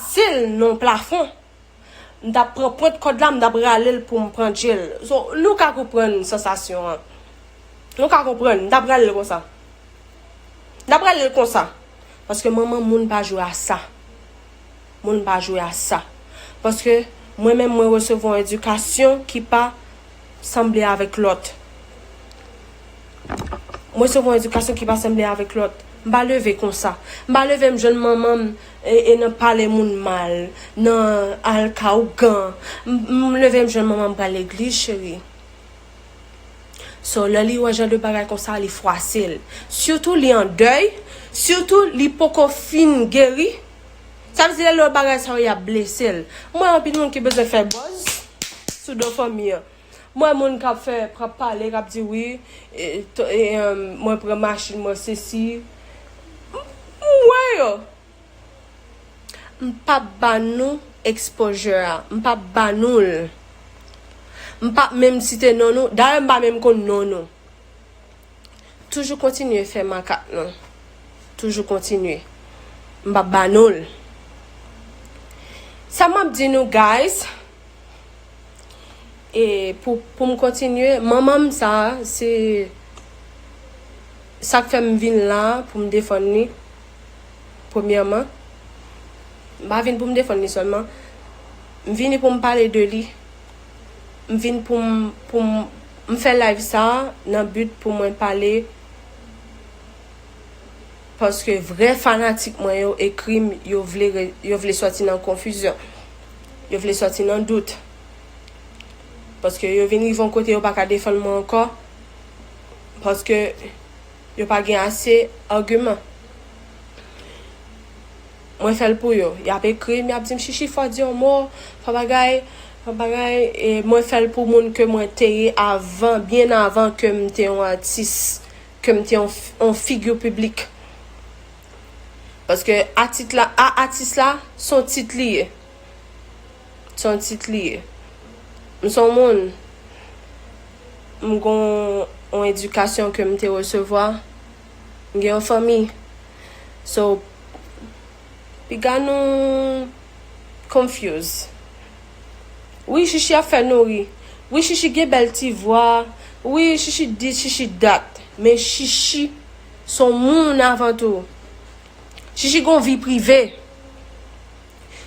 Sil nan plafon m tap pran pwent kòd la m tap ralel poum pran jel so nou ka konprann sansasyon an nou ka konprann m tap ralel konsa m tap ralel konsa paske manman moun pa jwe a sa moun pa jwe a sa paske mwen menm mwen resevwa yon edikasyon ki pa sanble avèk lòt. M resevwa yon edikasyon ki pa sanble avèk lòt. M pa leve konsa. M pa leve m jwenn manman m e nan pale moun mal, nan al ka ougan. M leve m jwenn manman m pral legliz cheri. So lè li wè jan de bagay konsa li fwase l. Sitou li an dèy, sitou li poko fin geri. Sa vle di lè lò bagay sa yo yap blesel. M wè anpil moun ki bezwen fè buzz sou do fanmi an. M wè moun kap fè kap pale kap di wi mwen pran machin mwen sesi M wè yo. M pap ba nou exposure a. M pap ba nou l. M pap menm site non nou. Dayè m pa menm konn non nou. Toujou kontinye fè makak nou. Toujou kontinye. M pap ba nou l. Sa m ap di nou guys. E pou m kontinye. Manman m sa a se. Sak fè m vin la a pou m defann li. Premyèman. M pa vin pou m defann li sèlman. M vini pou m pale de li. m vin pou m pou m m fè live sa nan but pou mwen pale paske vrè fanatik mwen yo ekri m yo vle re yo vle sòti nan konfizyon yo vle sòti nan dout paske yo vin rive yon kote yo pa ka defann mwen ankò paske yo pa gen ase agiman. Mwen fèl pou yo. Yap ekrim yap dim shishi fò di yon mo, fò bagay, fò bagay e mwen fèl pou moun ke mwen te ye avan byen avan kem te yon atis, kem te yon yon figure public. Paske atit la a atis la son tit li ye. Son tit li ye. M son moun m gon yon edikasyon kem te resevwa. M gen yon fanmi So piga nou confuse Wi Shishi ap fè nou ri Wi Shishi gen bèl ti vwa Wi Shishi this Shishi that Men Shishi s on moun avan tou Shishi gen yon vi prive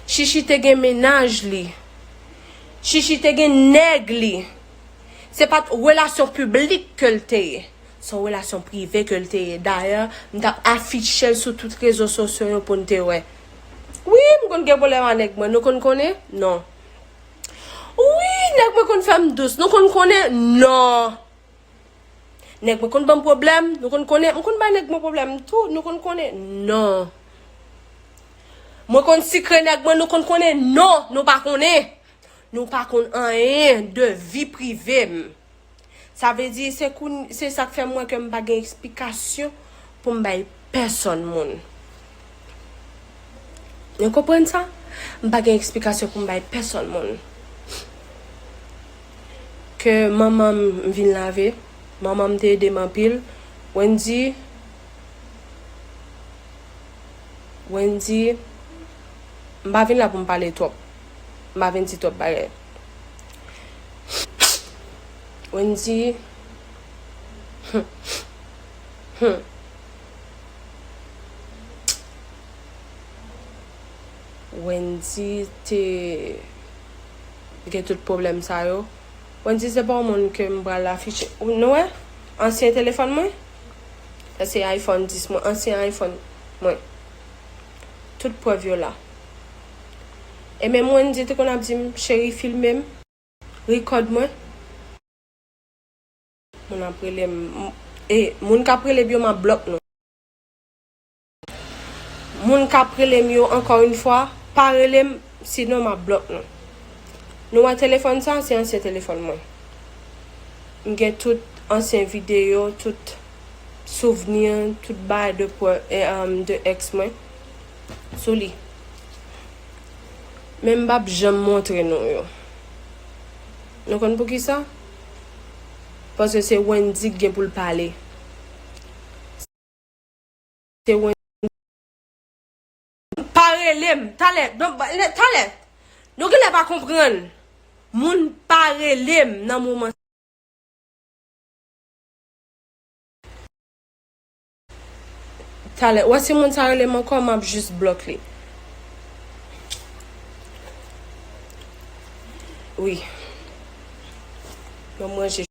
Shishi te gen mennaj li Shishi te gen nèg li Se pa t relasyon piblik ke l te ye Se yon relasyon prive ke l te ye. Dayè, m t ap afiche l sou tout rezo sosyo yo pou n te wè. Wi, m konn gen pwoblèm ak nèg mwen. Nou konn konnen? Non. Wi, nèg mwen konn fè m dous. Nou konn konnen? Non. Nèg mwen konn ban m pwoblèm. Nou konn konnen? M konn bay nèg mwen pwoblèm tou. Nou konn konnen? Non. Mwen konn sikre nèg mwen. Nou konn konnen? Non, nou pa konnen. Nou pa konn anyen de vi prive m. Sa vle di se koun se sak fè mwen ke m pa gen eksplikasyon pou m bay pèsòn moun. Nou konprann sa? M pa gen eksplikasyon pou m bay pèsòn moun. Ke manman m m vin lave, manman m te ede m anpil. Wendy Wendy M pa vin la pou m pale twòp. M pa vin di twòp bagay. Wendy Humm Humm Wendy te Gen tout pwoblèm sa yo Wendy se pa yon moun ke m pral afiche Ou nou wè ansyen telefòn mwen Sa se iPhone 10 mwen ansyen iPhone mwen Tout prèv yo la E menm Wendy te konn ap di m cheri filme m, record mwen. Moun ap rele m, e moun k ap rele m yo m ap block nou. Moun k ap rele m yo ankò yn fwa pa rele m sinon m ap block nou. Nou wè telefòn sa se ansyen telefòn mwen. M gen tout ansyen videyo, tout souvni, tout bagay de ex mwen. sou li men m pap janm montre nou yo nou konn poukisa paske se Wendy ki gen pou l pale se Wendy pa rele m talè talè nou genlè pa konprann moun pa rele m nan moman sa. Talè wè si moun sa relem ankò map jus blòk li wi Mwen manje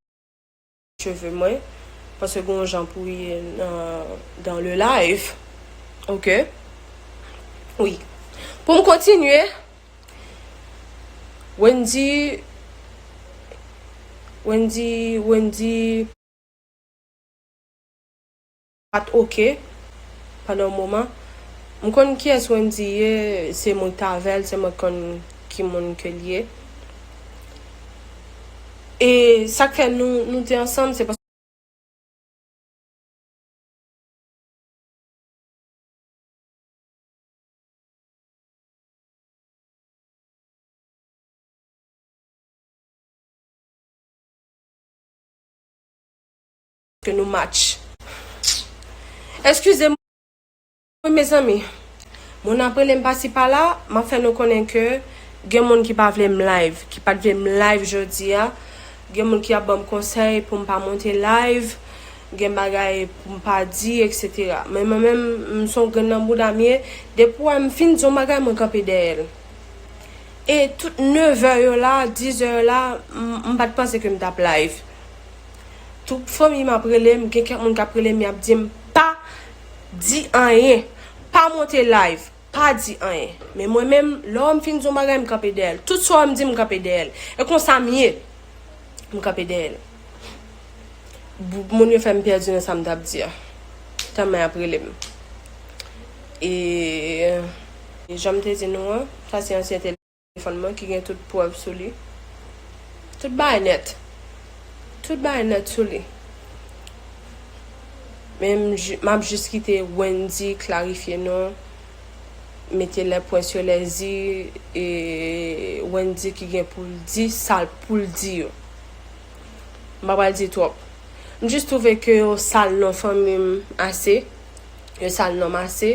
cheve mwen paske gen yon jan pou ye dans le live ok wi Poum kontinye Wendy Wendy Wendy. Pat ok pandan yon moman. M konn kiyès Wendy ye, se moun t avèl se mwen konn ki moun ke l ye. E sa k fè nou nou te ansanm se paske. ke nou match. Eskize mwen mezanmi. Moun ap rele m pasi pala, m ap fè nou konnen ke gen moun ki pa vle m live, ki pat vle m live jodi a. Gen moun ki ap ban m konsèy pou m pa monte live, gen bagay pou m pa di etc. Men mwen menm, m se yon grenn nan bouda m ye, depi ou wè m fin di yon bagay mwen kanpe dèyè l. E tout nevè yo la, dizè yo la, m pat panse ke m t ap live. Tout fanmim ap relem gen kèk moun kap relem yap dim pa Di anyen pa monte live pa Di anyen men mwen menm lè wèm fin Di yon bagay m kanpe dèyèl tout sa wèm dim m kanpe dèyèl e konsam ye m kanpe dèyèl moun yo fèm pèdi nan sam tap Di a tèlman yap relem e janm te Di nou an sa se ansyen tele. Telefòn mwen ki gen tout prèv sou li. Tout bagay nèt. Tout bagay nèt sou li. Men m ap jis kite Wendy klarifye nou, mete lè pwen sou lè zi, e Wendy ki gen pou l di sa l pou l di yo. M pa pral di twòp. M jis twouve ke yo sal non fanmi m ase. Yo sal non m ase.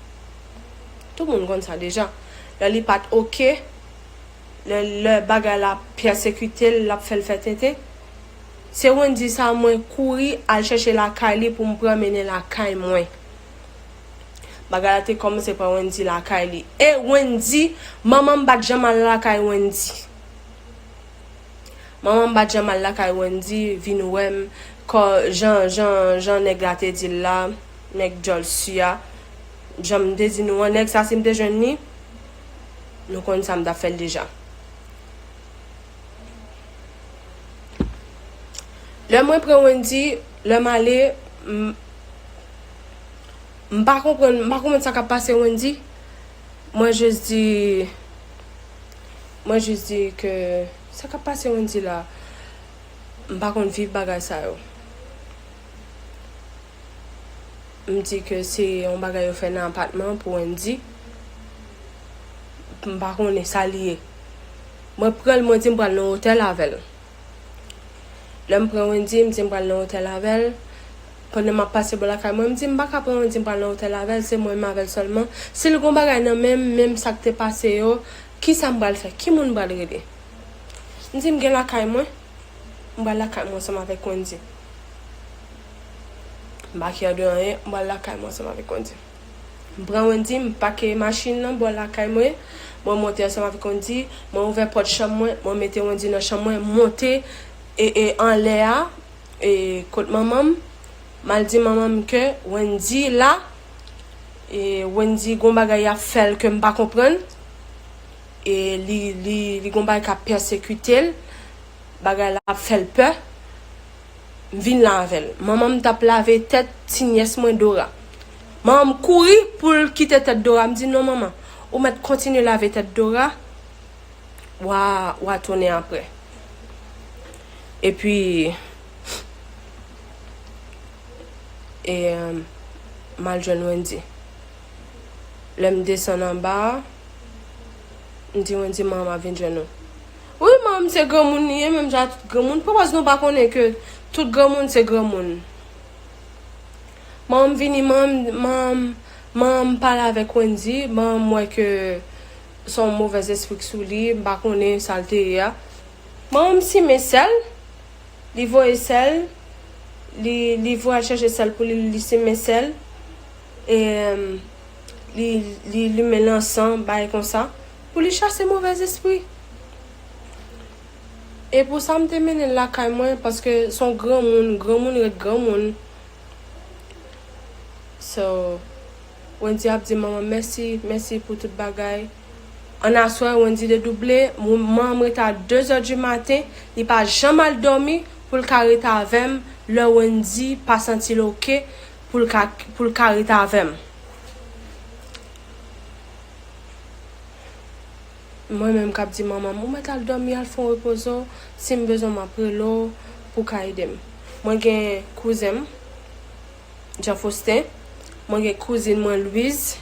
Tout moun konn sa deja. Lè li pat ok, lè lè bagay la ap pèsekite l, l ap fè l fè tenten. Se Wendyy sa mwen kouri al chèche lakay li pou m pran mennen lakay mwen. Bagay la te kòmanse pran Wendyy lakay li. E Wendyy, manman m pat janm al lakay Wendyy. Manman bat janm al lakay Wendy vin wèm kò jan jan jan nèg la te dil la nèg djòl su a janm te di nou an nèg sa sim te jwenn li nou konn sam tap fèl deja lè mwen pran Wendy lèm ale m m pa konprann m pa konprann sa kap pase Wendy. Mwen jis di Mwen jis di ke Sa kap pase Wendy la M pa konn viv bagay sa yo M di ke se yon bagay yo fè nan apatman pou Wendy M pa konnen sa li ye Mwen pran l mwen di m pral nan otèl avè l Lè m pran Wendy m di m pral nan otèl avè l Pandan m ap pase bò lakay mwen, m di m pa ka pran l, m di m pral nan otèl avè l, se mwen m avè l sèlman. Si l gon bagay nan men m, menm sa k te pase yo, ki sa m pral fè? Ki moun m pral rele? M di m gen lakay mwen, m pral lakay mwen ansanm avèk Wendy. M pa kyè de anyen, m pral lakay mwen ansanm avèk Wendy. M pran Wendy, m pake machin lan bò lakay mwen, mwen monte ansanm avèk Wendy, mwen ouvè pòt chanm mwen, mwen mete Wendy nan chanm mwen, m monte e e anlè a, E kot manman m. Mal di manman m ke Wendy la. E Wendy gon bagay yap fel kem pa konprann. E li li gon bagay kap pèsekite l. Bagay la ap fel pè. M vin la avel. Manman m tap lave tet ti nyes mwen Dora. Manman m kouri poul kite tet Dora. M di non manman. Ou met kontinye lave tet Dora. wa wa tounen aprè. Epi e mal jwenn Wendy. Lè m desann anba a, m di Wendy man map vin jwenn ou. Wi man m se granmoun li ye menm jan ak tout granmoun. Poukòz nou pa konnen ke tout granmoun se granmoun. Man m vini man m man m pale avèk Wendy, man m wè ke. Son movè zespri k sou li m pa konnen sal te ye a manman m simen sèl li voye sèl li li voye al chache sèl pou li li simen sèl e li li limen lansan bay konsa pou li chase movè zespri e pou sa m te mennen l lakay mwen paske son granmoun granmoun ret granmoun so. Wendy ap di manman mèsi mèsi pou tout bagay An aswè Wendy dedouble Manman m rete a 2 zè di maten Li pa janm al dòmi pou l ka rete avè m Lè Wendy pa santi l ok pou l ka pou l ka rete avè m Mwen menm k ap di manman m ou mèt al dòmi al fon repoze w Si m bezwen w m ap rele w pou w ka ede m Mwen gen kouzen m. Jean Faustin, mwen gen kouzin mwen Louise,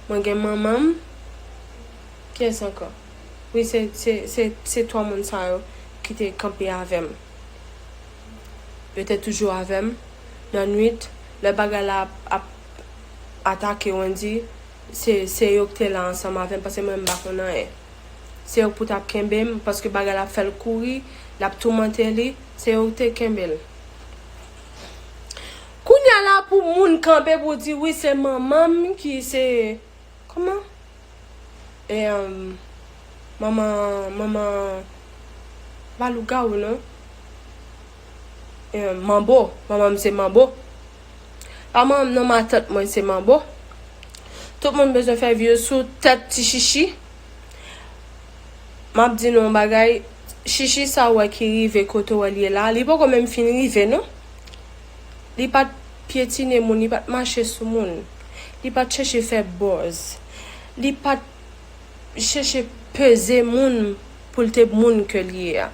mwen gen manman m, kiyès ankò? Wi se se se 3 moun sa yo ki te kanpe avè m. Yo te toujou avè m nan nwit lè bagay la ap ap atake Wendy se se yo ki te la ansanm avè m paske mwen m pa konn anyen. Se yo k pou t ap kenbe m paske bagay la ap fè l kouri, l ap toumante li, se yo ki te kenbe l. Kounya la pou moun kanpe pou di wi se manmanm ki se kòman e manman manman se pa lougawou non e manbo manmanm se manbo pa manmanm non matant mwen se manbo tout moun bezwen fè vye sou tèt ti chichi. Map di nou yon bagay Shishi sa ou wè ki rive kote ou wèl ye la li poko menm fin rive non li pat pyetine moun li pat mache sou moun li pat chèche fè buzz li pat chèche peze moun poul te moun ke li ye a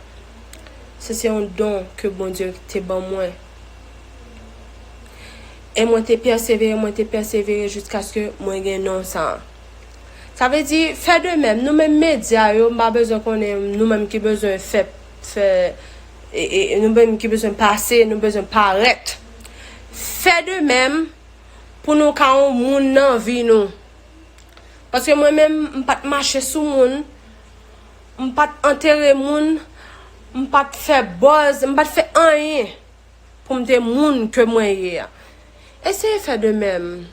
se se yon don ke Bondye te ban mwen e mwen te pèsevere mwen te pèsevere jiskaske mwen gen non sa Sa vle di, fè de menm, nou menm medya yo, m pa bezwen konnen nou menm ki bezwen fè, fè, nou menm ki bezwen pase, nou bezwen parèt. Fè de menm pou nou ka yon moun nan vi nou. Paske mwen menm, m pa t mache sou moun, m pa t antere moun, m pa t fè buzz, m pa t fè anyen. pou m te moun ke mwen ye a. Eseye fè de menm.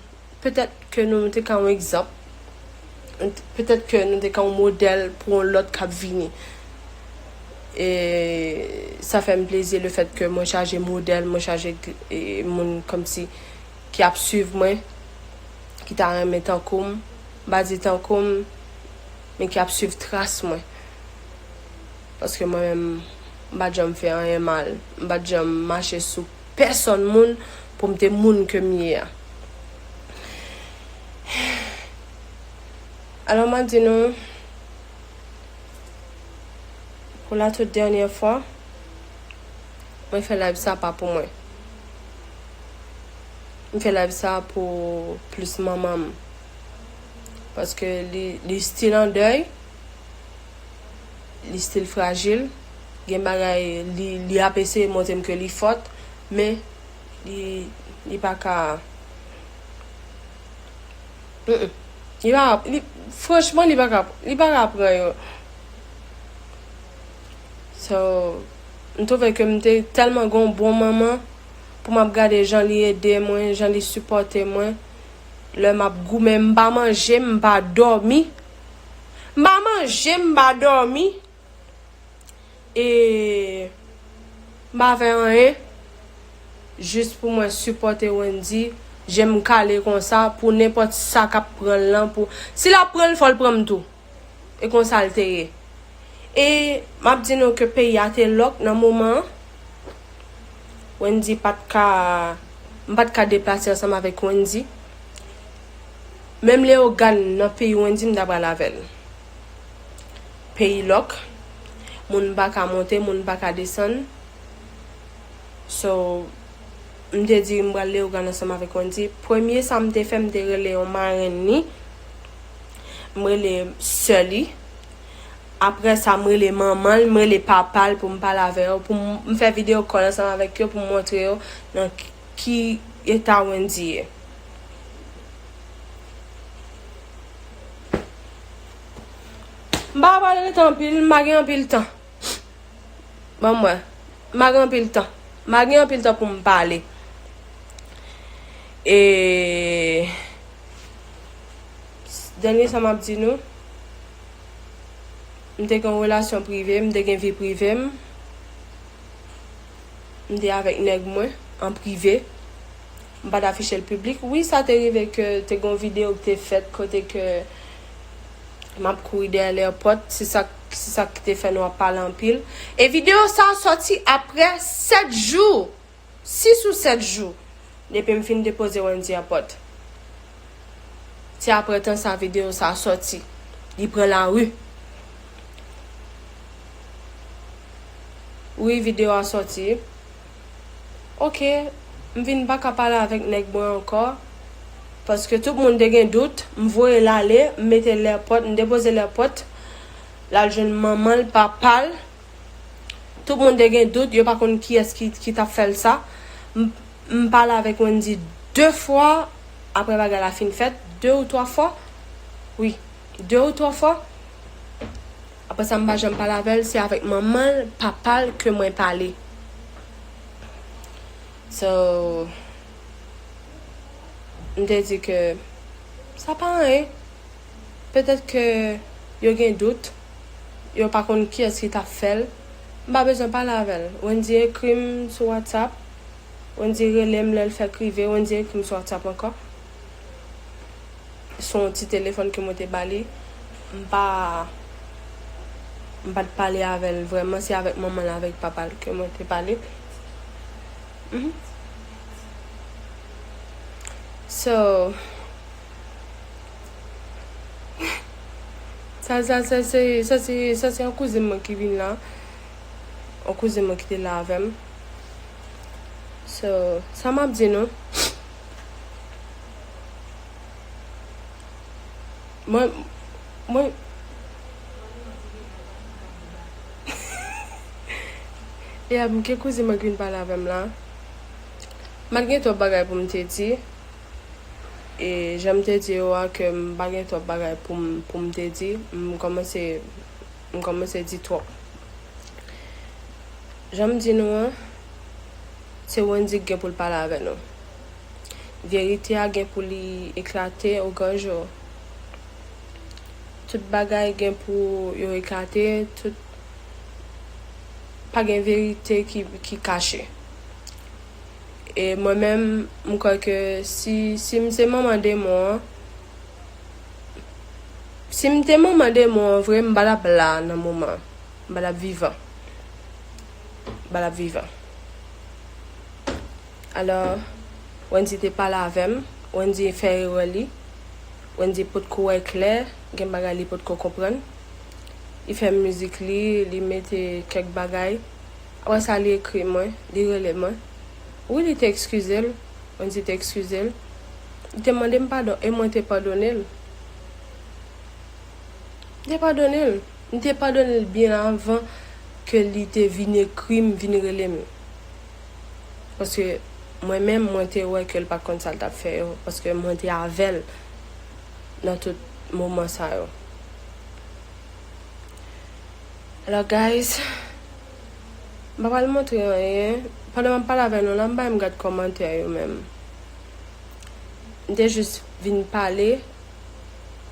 Petèt ke nou te ka yon egzanp. Petèt ke nou te ka yon modèl pou yon lòt k ap vini. E sa fè m plezi le fèt ke mwen chaje modèl, mwen chaje moun kòmsi ki ap swiv mwen, ki ta renmen tankou m, m pa di tankou m, men ki ap swiv tras mwen. Paske mwen menm, m pa t janm fè anyen mal. M pa t janm mache sou pèsonn moun pou m te moun ke m ye a. Alò m ap di nou, pou la tout dènyè fwa, mwen fè live sa pa pou mwen. M fè live sa pou plis manman m. Paske li stil an dèy. li stil frajil, gen bagay li ap eseye montre m ke li fòt, men li pa ka, franchman li pa ka, li pa ka pran yo. So, m twouve ke m te tèlman gen yon bon manman, pou m ap gade jan li ede mwen, jan li sipòte mwen, lè m ap goumen, m pa manje, m pa dòmi. M pa manje, m pa dòmi e m pa fè anyen jis pou mwen sipòte Wendy je m kale konsa pou nenpòt sa k ap pran l lan pou si l ap pran l fò l pran m tou e konsa l te ye e m ap di nou ke peyi a te lòk nan moman an Wendy pa t ka m pa t ka deplase ansanm avèk Wendy. Menm Leogàn nan peyi Wendy m ta pral avè l. Peyi lòk, moun pa ka monte, moun pa ka desann. So, m te di m pral Leogàn ansanm avèk Wendy. Premye sa m te fè, m te rele yon marenn li, m rele sè li. Apre sa, m rele manman l, m rele papa l pou m pale avè yo. Pou m fè videyo kòl ansanm avèk yo pou m montre yo nan ki eta Wendy ye. M pa pale de tan anpil, m pa gen anpil tan. Ban m wè. M pa gen anpil tan. M pa gen anpil tan pou m pale. E... Dènye sa m ap di nou, m te gen yon relasyon prive, m te gen vi prive m. M te avèk nèg mwen, an prive. M pat afiche l piblik. Wi sa te rive ke te gon video ki te fèt kote ke map kouri dèyè lèpòt se sak se sak ki te fè nou ap pale anpil e video sa sòti aprè 7 jou 6 ou 7 jou depi m fin depoze Wendy a pòt se aprè tan sa video sa sòti li pran lari wi video a sòti. Ok m vin paka pale avèk nèg mwen ankò paske tout moun te gen dout m voye l ale m mete l èpòt m depoze l èpòt l al jwenn manman l papa l tout moun te gen dout yo pa konn kiyès ki t ap fè l sa m pale avèk Wendy 2 fwa aprè bagay la fin fèt 2 ou 3 fwa wi 2 ou 3 fwa. Aprè sa m pa janm pale avè l, se avèk manman l, papa l ke mwen pale. So, m te di ke sa pa anyen. Petèt ke yo gen dout, yo pa konn kiyès ki ta fè l. M pa bezwen pale avè l. Wendy ekri m sou WhatsApp, Wendy rele m lè l fèk rive, Wendy ekri m sou WhatsApp ankò. se yon ti telefòn ke mwen te ba li. M pa, m pa t pale avè l vrèman. Se avèk manman l avèk papa l ke mwen te pale. So, sa sa se, se, sa se, sa se yon kouzin mwen ki vin la. Yon kouzin mwen ki te la avè m. So, sa m ap di nou. Mwen Mwen E ap mnke kouzin mwen ki vin pale avè m la Mpa gen twòp bagay pou m te di E jan m te di yo a ke m pa gen twòp bagay pou m pou m te di M kòmanse M kòmanse di twòp. Jan m di nou an, se Wendy k gen pou l pale avè nou. Verite a gen pou li eklate o gran jou. Tout bagay gen pou yo eklate, tout pa gen verite ki kache. E mwen menm, m kwè ke si m se manman demon an, Si m te manman demon an vre m pa tap la nan moman an. M pa tap vivan. M pa tap vivan. Alò, Wendy te pale avè m. Wendy fè erè li. Wendy pot ko wè klè. Gen bagay li pot ko konprann. Li fè mizik li. Li mete kèk bagay. Apre sa li ekri mwen. Li rele mwen. Wi li te ekskize l. Mwen di te ekskize l. Li te mande m padon e mwen te padone l. M te padone l. M te padone l byen avan ke li te vin ekri m, vin rele m. Paske mwen menm mwen te wè ke l pa t konn sa l t ap fè yo. Paske mwen te avè l nan tout moman sa yo. Alò guys. M pa pral montre anyen pandan map pale avè nou la m pa menm gad kòmantè yo menm m te jis vin pale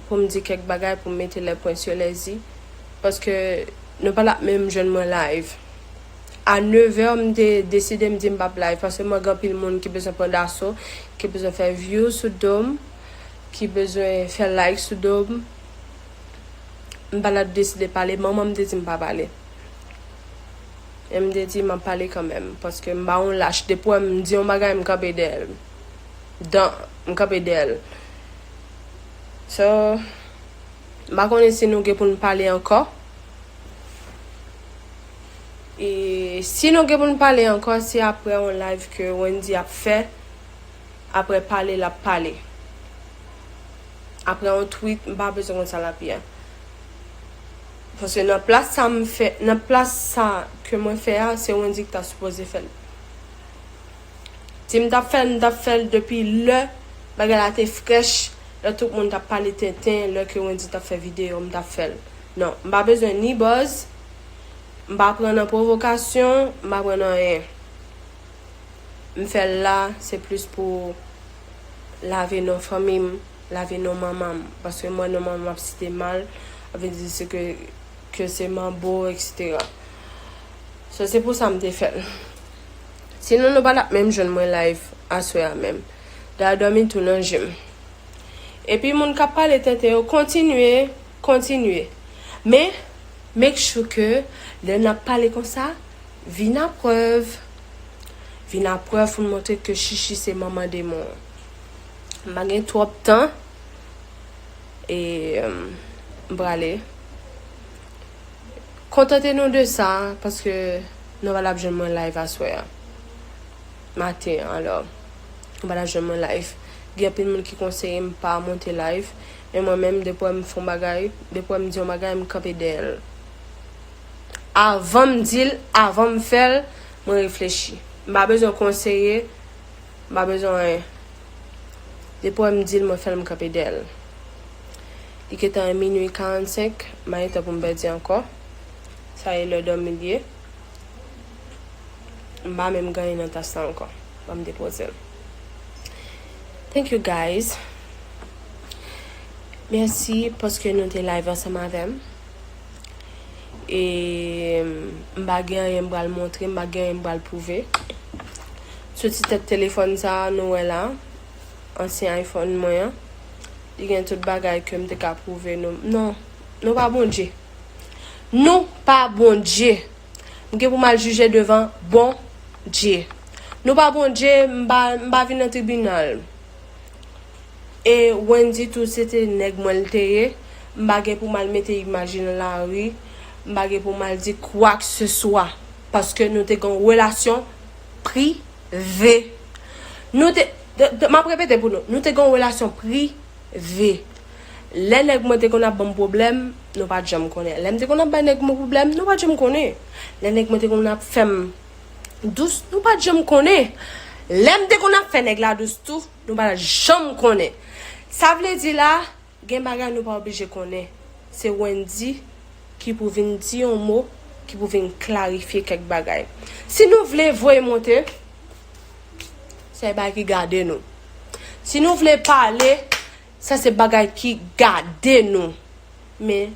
pou m di kèk bagay pou m mete les points sur les i paske nou pa tap menm jwenn mwen live a 9 heures m te deside m di m pap live paske m wè gen anpil moun ki bezwen pran daso ki bezwen fè views sou do m ki bezwen fè like sou do m m pa la deside pale manman m te di m pa pale. e m te di m ap pale kanmenm paske m pa yon lach depi wè m di yon bagay m kanpe dèyè l dan m kanpe dèyè l so m pa konnen si nou gen pou n pale ankò e si nou gen pou n pale ankò se apre yon live ke Wendy ap fè apre pale l ap pale apre yon tweet m pa bezwen konn sa l ap ye. Paske nan plas sa m fè, nan plas sa ke mwen fè a, se Wendyy ki ta sipoze fè l. Si m t ap fè l, m t ap fè l depi lè bagay la te frèch, lè tout moun t ap pale tenten, lè ke Wendyy t ap fè videyo, m t ap fè l. Non, m pa bezwen ni buzz, m pa pran nan pwovokasyon, m pa pran nan anyen. M fè l la, se plis pou. lave non fanmi m, lave non manman m. Paske m wè non manman m ap site mal, ap vin di se ke ke se manbo eksetera. So se pou sa m te fè l. Sinon nou pa tap menm jwenn mwen layv aswè a menm. Dara dòmi tou nan je m. Epi moun k ap pale tenten yo kontinye, kontinye. Men, make sure ke lè n ap pale konsa, Vin a prèv Vin a prèv pou n montre ke Shishi se manman demon an M pa gen twòp tan e m prale Kontante nou de sa paske nou pa t ap jwenn mwen live aswè a maten an alò nou pa t ap jwenn mwen live Gen anpil moun ki konseye m pa monte live men mwen menm depi w wè m fè yon bagay depi w wè m di yon bagay m kanpe dèyè l. Avan m di l, avan m fè l, mwen reflechi. M pa bezwen konseye, m pa bezwen anyen. Depi wè m di l, mwen fè l, m kanpe dèyè l. Li gentan e minui 45, m pa gen tan pou m pèdi ankò. Sa e lè dòmi l ye. M pa menm gen anyen nan tas la ankò. Ban m depoze l. Thank you guys. Mèsi paske nou te live ansanm avè m. e m pa gen anyen m pral montre, m pa gen anyen m pral pwouve. Sou ti tèt telefòn sa a nou wè la, ansyen iPhone mwen an, li gen tout bagay ke m te ka pwouve nou. Non, nou pa Bondye. Nou pa Bondye! M gen pou m al jije devan Bondye. Nou pa Bondye, m pa vin nan tribinal. E Wendy tou se te nèg mwen l te ye, m pa gen pou m al mete imaj li nan lari, m pa gen pou m al di kwakseswa. Paske nou te gen yon relasyon prive. Nou te, m ap repete pou nou, nou te gen yon relasyon prive. Lè nèg mwen te konn ap ban m pwoblèm, nou pa t janm konnen. Lè m te konn ap bay nèg mwen pwoblèm, nou pa t janm konnen. Lè nèg mwen te konn ap fè m dous nou pat janm konnen lèm te konn ap fè nèg la dous tou nou pat janm konnen sa vle di la gen bagay nou pa oblije konnen se Wendy ki pou vin di yon mo ki pou vin klarifye kèk bagay si nou vle voye monte se bagay ki gade nou si nou vle pale sa se bagay ki gade nou men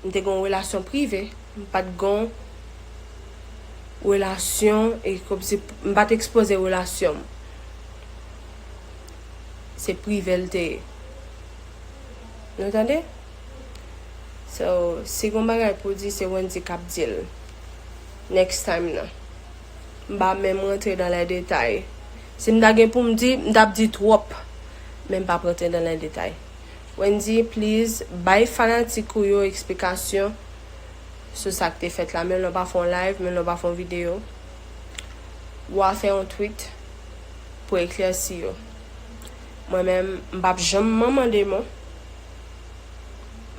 M te gen yon relasyon prive. M pa t gen yon relasyon e kòmsi m pa t ekspoze relasyon m. Se prive l te ye. Nou tande? So, si gen yon bagay pou w di se Wendy k ap di l. Next time nan. M pa menm rantre dan lè detay. Si m ta gen pou m di, m t ap di twòp. Men m p ap rantre dan lè detay. Wendy please bay fanatik ou yo eksplikasyon sou sak te fèt la menm lè w pa fè yon live menm lè w pa fè yon video wa fè yon tweet pou eklèsi yo mwen menm m pap janm manman demon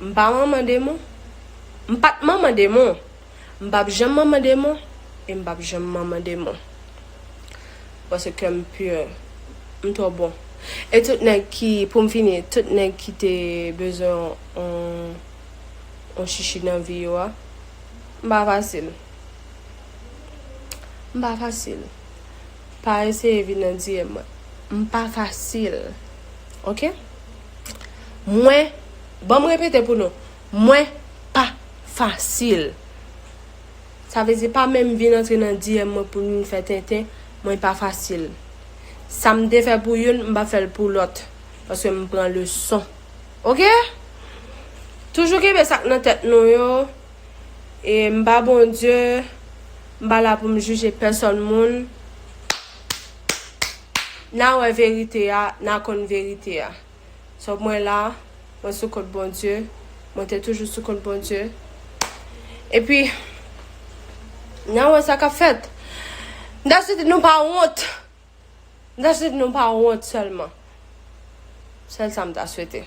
m pa manman demon m pat manman demon. M pap janm manman demon e m pap janm manman demon Paske kè m pur M twò bon E tout nèg ki Pou m fini Tout nèg ki te bezwen on On chichi nan vi yo a M pa fasil M pa fasil Pa eseye vin nan DM mwen M pa fasil Ok Mwen Ban m repete pou nou Mwen pa fasil. Sa vle di pa menm vin antre nan DM mwen pou vin fè tenten, mwen pa fasil. Sa m te fè pou youn, m pa fè l pou lòt. Paske m pran leson. Ok? Toujou kenbe sa k nan tèt nou yo. E m pa Bondye. M pa la pou m jije pèsòn moun. N a wè verite a, n a konn verite a. So mwen la, mwen sou kont Bondye, mwen te toujou sou kont Bondye. Epi, nan wè sa k ap fèt. M ta swete nou pa wont. M ta swete nou pa wont sèlman. Sèl sa m ta swete.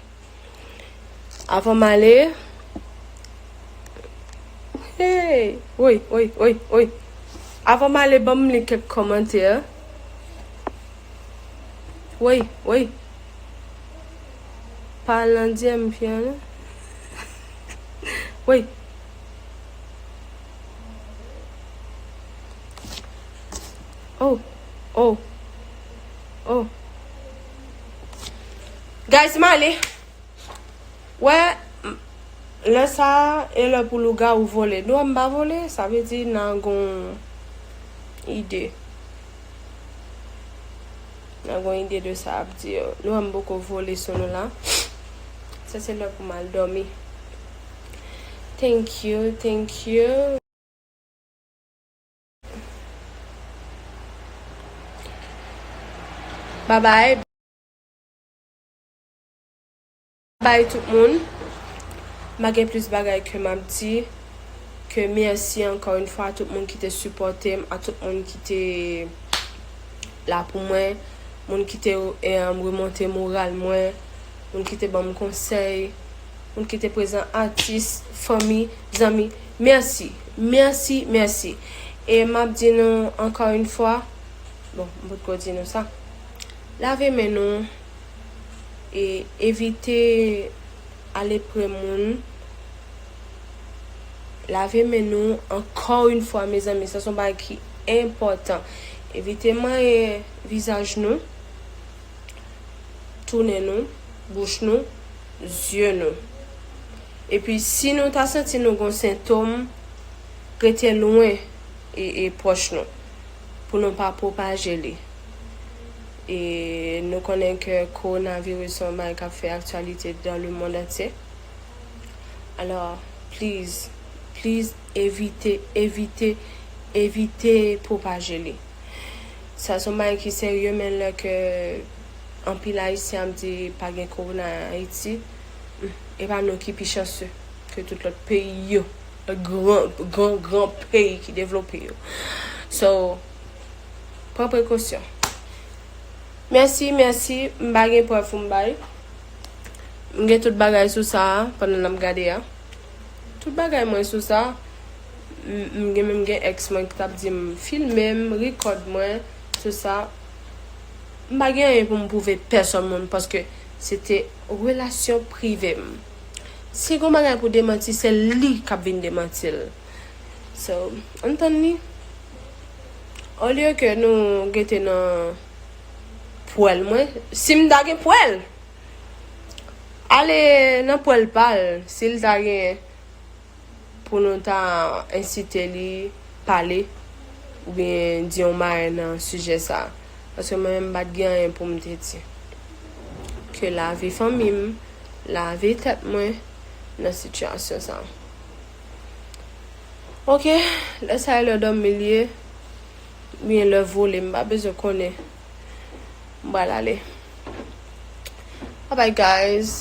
Avan m ale. Hey! Oy, oy, oy, oy. Avan m ale, ban m li kèk kòmantè. Woy woy Pa al nan dyèm fi an non Woy Oh oh Oh Guys m ale Wè Lè sa a e lè pou lougawou vole dwa m pa vole sa vle di nan gon ide. Nan gon ide de sa ap di yo. Nou wè m poko vole sou nou la. Sa se lè pou m al dòmi. Thank you, thank you. Bye bye. Bye tout moun m pa gen plis bagay ke map di ke merci ankò yn fwa a tout moun ki te sipòtem a tout moun ki te la pou mwen moun ki te remonte moral mwen moun ki te banm konsèy moun ki te prezan atis fanmi zanmi merci merci merci e map di nou ankò yn fwa bon m potko di nou sa lave men nou. e evite ale pre moun lave men nou ankò yn fwa mezanmi sa son bagay ki enpòtan evite manyen vizaj nou tou nen nou bouch nou zye nou epi si nou ta santi nou gon sentom rete lwen e pwòch nou pou nou pa pwopaje li. e nou konnen ke kowonaviris son bagay kap fè aktyalite dan le mond antye alò pliz pliz evite evite evite pwopaje li sa son bagay ki serye men lè ke anpil ayisyen ap di pa gen kowona an ayiti e pa nou ki pi chanse ke tout lòt peyi yo gran gran gran peyi ki devlope yo so. Pran prekosyon. Mèsi, mèsi. M pa gen prèv pou m bay. M gen tout bagay sou sa a pandan n ap gade a. Tout bagay mwen sou sa. M gen menm gen èks mwen ki t ap di m filme m, rikòd mwen sou sa. M pa gen anyen pou m pwouve pèsòn moun paske se te relasyon prive m. Si gen yon bagay pou demanti, se li k ap vin demanti l. So ann tann li. Olye ke nou gete nan pwèl mwen. Si m ta gen pwèl. Ale nan pwèl pal. Si l ta gen pou nou ta ensite li pale. Ou byen di yon bagay nan sijè sa. Paske mwen menm m pat gen anyen pou m te di. Ke lave fanmi m. Lave tèt mwen nan sitiyasyon sa. Ok lè sa e lè domi li ye Oubyen lè vole m pa bezwen konnen M pral ale Babay guys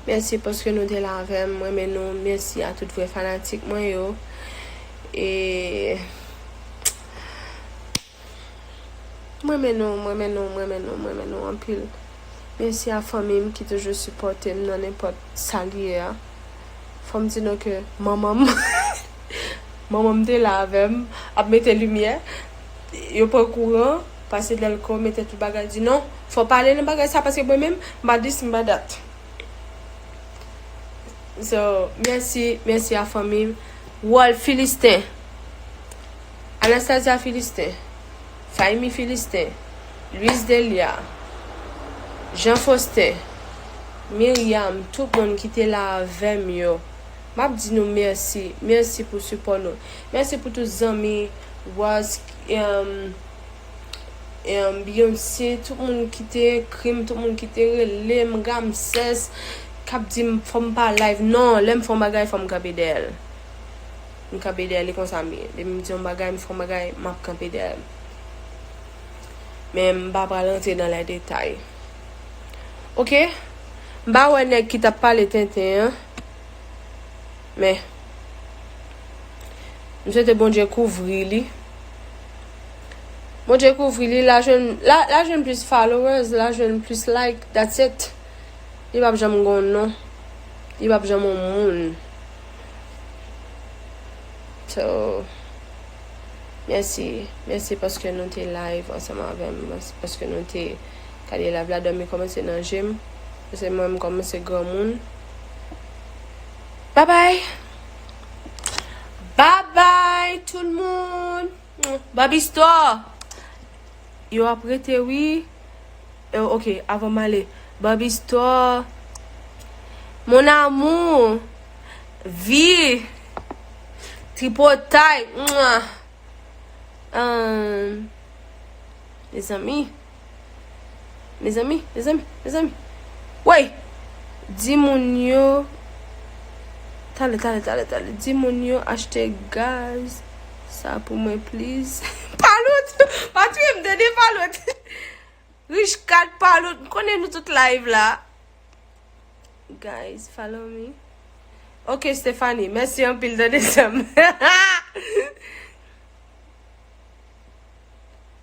Mèsi paske nou te la avè m m renmen nou mèsi a tout vrè fanatik mwen yo E. M renmen nou m renmen nou m renmen nou m renmen nou anpil mesi a fanmim ki toujou sipotem nan nenpot sal ye a fom di nou ke manmanm manmanm te la avem ap mete limye yo pran kouran pase delko mete tout bagay di non fo pa ale nan bagay sa paske mwen menm m pa dis m pa dat so mesi mesi a fanmim wol filisten. Anastasia Philistin, Faimi Philistin, Luis Delia, Jean Faustin, Myriam, tout moun ki te la avèm yo, map di nou mèsi, mèsi pou sipò nou, mèsi pou tout zanmi Ross, Beyonce, tout moun ki te ekrim, tout moun ki te relem, Ramses, kap dim fòm pa live, non, lèm fon bagay fòm kanpe dèyèl. M kanpe dèyè li konsa m ye. Depi m di yon bagay, m fè yon bagay, m ap kanpe dèyè l. Men m pa pral rantre nan lè detay. Ok, m pa wè nèg ki t ap pale tenten an. Men, m swete Bondye kouvri li. Bondye kouvri li, l a jwenn, l a, l a jwenn plis followers, l a jwenn plis like, that's it. Li p ap janm gen yon non. Li p ap janm yon moun. So mèsi, mèsi paske nou te live ansanm avèm, mèsi paske nou te gade live la dòmi kòmanse nan jem, paske mwen m kòmanse granmoun Babay Babay tout moun. Babi store Yo ap rete wi euh ok avan m ale Babi store Mon amour Vie Tripotay Mouah Ahh Mezanmi. Mezanmi, mezanmi, mezanmi. Woy! Di moun yo. Tale, tale, tale, tale. Di moun yo achte gaz. Sa pou mwen pliz. Palout! Pa touye m tande palout. Rich kat palout. M konnen nou tout live la. Guys, follow me. Ok, Stephanie. Mèsi anpil tande sè m.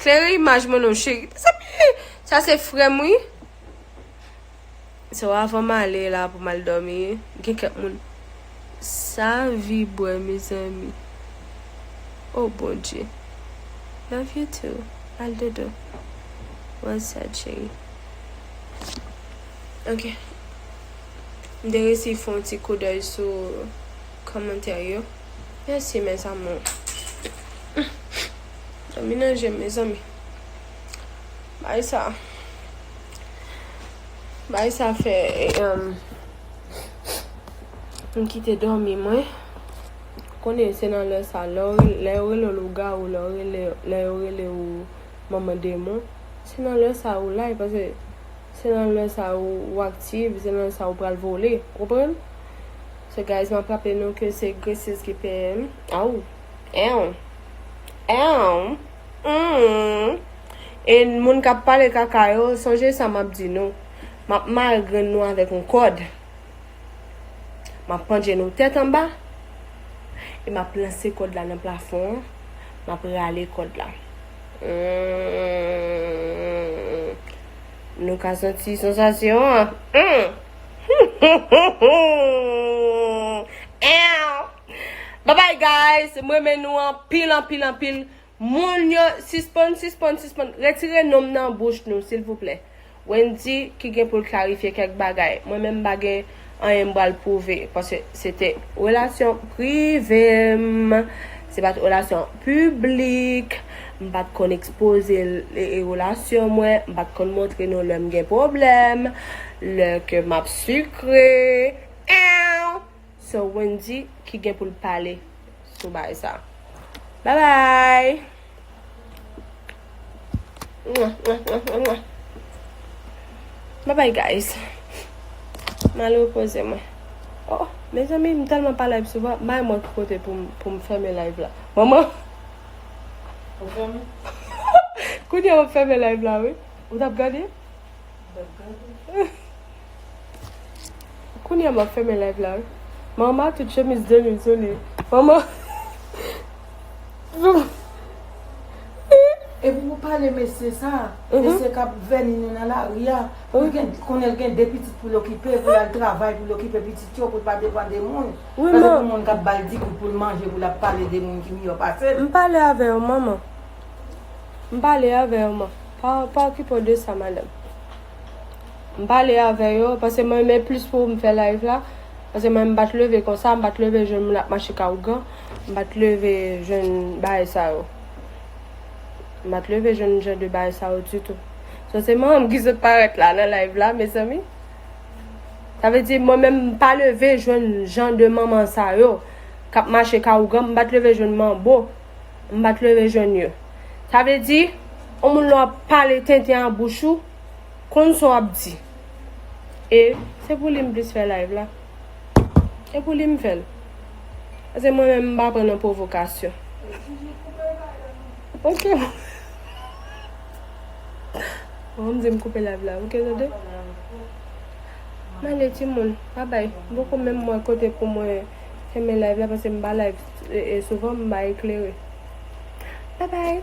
Klere imaj mwen non cheri. Mezanmi! Sa se frè m wi. So avan m ale la pou m al dòmi, gen kèk moun. Sa vi bwè mezanmi. O Bondye. Love you too. Al dodo. Well said cheri. Ok. M te resi fè yon ti koudèy sou kòmantè yo. Mèsi mes amours. Dòmi nan jem mezanmi. Bagay sa Bagay sa fè M kite dòmi mwen Ou konnen se nan lè sa Lè yo rele w lougawou Lè yo rele w manman demon Se nan lè sa ou la Se nan lè sa ou aktiv Se nan lè sa ou pral vole Ou konprann So guys m ap raple nou ke se Gracieuses ki peye m Aww Eww E moun kap pale kaka yo, sonje sa map di nou. Map mare grenn nou avèk yon kòd. Map pandje nou tèt anba. E map lanse kòd la nan plafon an. Map rale kòd la. Nou ka santi sansasyon an. Bye bye guys m renmen nou anpil anpil anpil moun yo sispann sispann sispann retire nonm nan bouch nou silvouplè Wendy ki gen poul klarifye kèk bagay mwen menm m pa gen anyen m pral pwouve paske se te relasyon prive m se pat relasyon piblik m pat konn ekspoze relasyon mwen m pat konn montre nou lèm gen pwoblèm lè ke map sikre eeuw. Se Wendy ki gen pou l pale sou bagay sa. Bye bye! Bye bye guys! M al repoze mwen. Oh, mezanmi m tèlman pa live souvan, bay mwen ki kote pou m fèmen live la. Manman! Ou fèmen? Kounye a m ap fèmen live la wi. Ou t ap gade? M t ap gade. Kounya map fèmen live la wi. Mama ma tout chemise 2000 sou li. Mama. E pou pou pale mesye sa, mesye kap vèni nou nan lari a, pou gen, konnen l gen 2 pitit pou l okipe, pou l al travay, pou l okipe pitit yo, pou l pa depan de moun. Wi man. Pase pou moun kap bal di pou l manje, pou l ap pale de moun ki miyò pase l. M pale avè w manman. M pale avè w man. Pa okipe w de sa madanm. M pale avè yo, pase mwen renmen plis pou m fè live la, pase mwen m pa t leve konsa, m pa t leve jwenn moun ap mache ka ougan, m pa t leve jwenn bagay sa yo. M pa t leve jwenn jan de bagay sa yo ditou. So se mwen menm ki sot parèt la nan live la mezanmi. Sa vle di mwen menm m pa leve jwenn jan de manman sa yo k ap mache ka ougan, m pa t leve jwenn manbo. M pa t leve jwenn yo. Sa vle di, yon moun lè w ap pale tenten an bouch ou, konn sa w ap di. E, se pou li m plis fè live la. Se pou li m fè l. Pase mwen menm m pa pran nan pwovokasyon. Ok. Bon, m di m koupe live la. Ok, tande. M ale timoun. Babay. M poko menm wè kote pou mwen fèmen live la pase m pa live. E souvan m ba eklere. Bye bye.